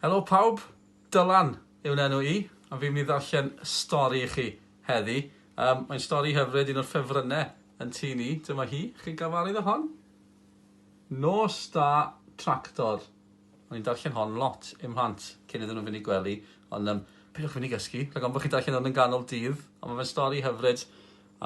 Helo pawb, Dylan yw'n enw i, a fi'n mynd i ddarllen stori i chi heddi. Um, mae'n stori hyfryd, un o'r ffefrynnau yn tu ni. Dyma hi, chi'n gafarydd o hon? Nos da tractor. O'n i'n darllen hon lot i'm mhlant cyn iddyn nhw'n fynd i gwely, ond um, peidiwch fynd i gysgu, rhaid ond bod chi'n darllen hwn yn ganol dydd, ond mae'n stori hyfryd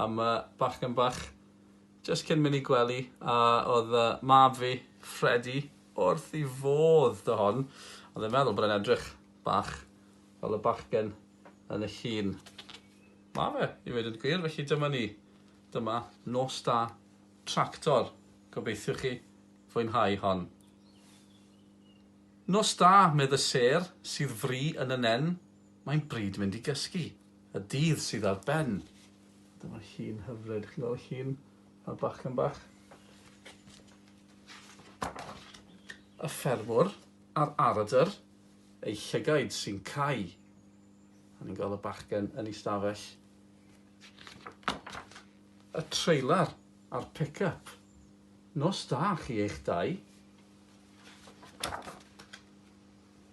am uh, bachgen bach Jyst cyn mynd i gwely a oedd mab fi, Ffredi, wrth i fodd 'da hon. Oedd e'n meddwl bod e'n edrych bach fel y bachgen yn y llun. Ma fe, i ddweud yn gwir, felly dyma ni. Dyma Nos Da Tractor. Gobeithiwch chi fwynhau hon. Nos da, medd y sêr, sydd fri yn y nen, mae'n bryd mynd i gysgu. Y dydd sydd ar ben. Dyma llun hyfryd, chi'n gweld y llun? A'r bachgen bach. Y ffermwr a'r aradr, ei llygaid sy'n cau. A ni'n gweld y bachgen yn ei stafell. Y trailer a'r pick-up. Nos da chi eich dau.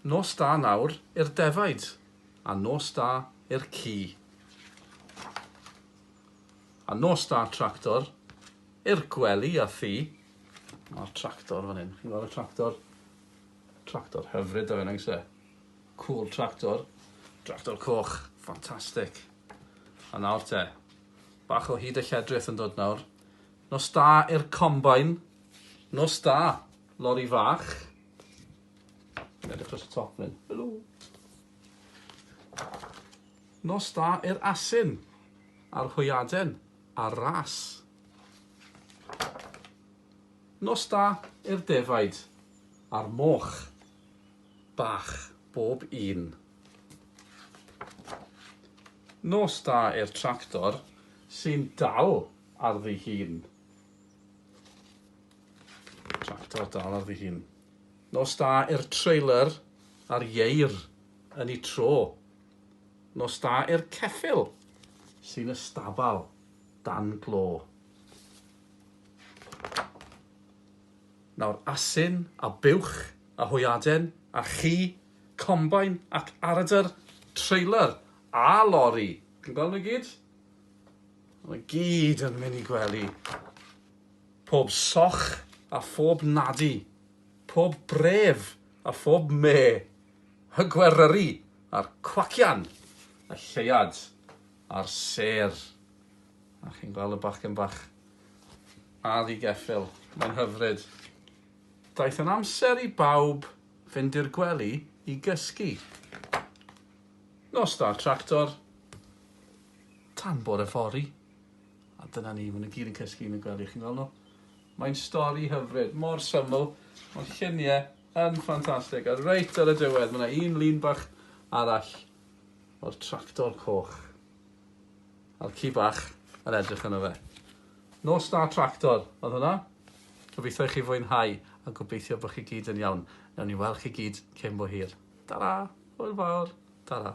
Nos da nawr i'r defaid, a nos da i'r ci. A nos da tractor i'r gwely a thi. Mae'r tractor fan hyn, chi'n gweld y tractor? Tractor hyfryd o fe, nag e? Cool tractor. Tractor coch, ffantastig. A nawr te, bach o hyd y lledrith yn dod nawr. Nos da i'r combine. Nos da, lori fach. Edrych dros y top fan hyn. Helo! Nos da i'r asyn, a'r hwyaden, a'r ras. Nos da i'r defaid, a'r moch, bach bob un. Nos da i'r tractor sy'n dal ar ddi hun. Tractor dal ar ddi hun. Nos da i'r trailer a'r ieir yn y tro. Nos da i'r ceffyl sy'n y stabal dan glo. Nawr asyn a buwch a hwyaden a chi, combine ac aradr, trailer a lori. Chi'n gweld nhw i gyd? Mae gyd yn mynd i gwely. Pob soch a phob nadi, pob bref a phob me, y gweryri a'r cwacian, y lleuad a'r sêr. A chi'n gweld y bachgen bach a ddigeffyl, mae'n hyfryd. Daeth yn amser i bawb fynd i'r gwely i gysgu. Nos da tractor, tan bore fory. A dyna ni, maen nhw gyd yn cysgu yn y gwely, chi'n gweld nhw? Mae'n stori hyfryd, mor syml, ond lluniau yn ffantastig. A reit ar y diwedd, mae yna un lun bach arall o'r tractor coch. A'r ci bach yn edrych yno fe. No Star Tractor, oedd hwnna? Gobeithio i chi fwynhau a gobeithio bod chi gyd yn iawn. Newn ni weld chi gyd cyn bo hir. Ta-ra! Hwyl fawr! Ta-ra!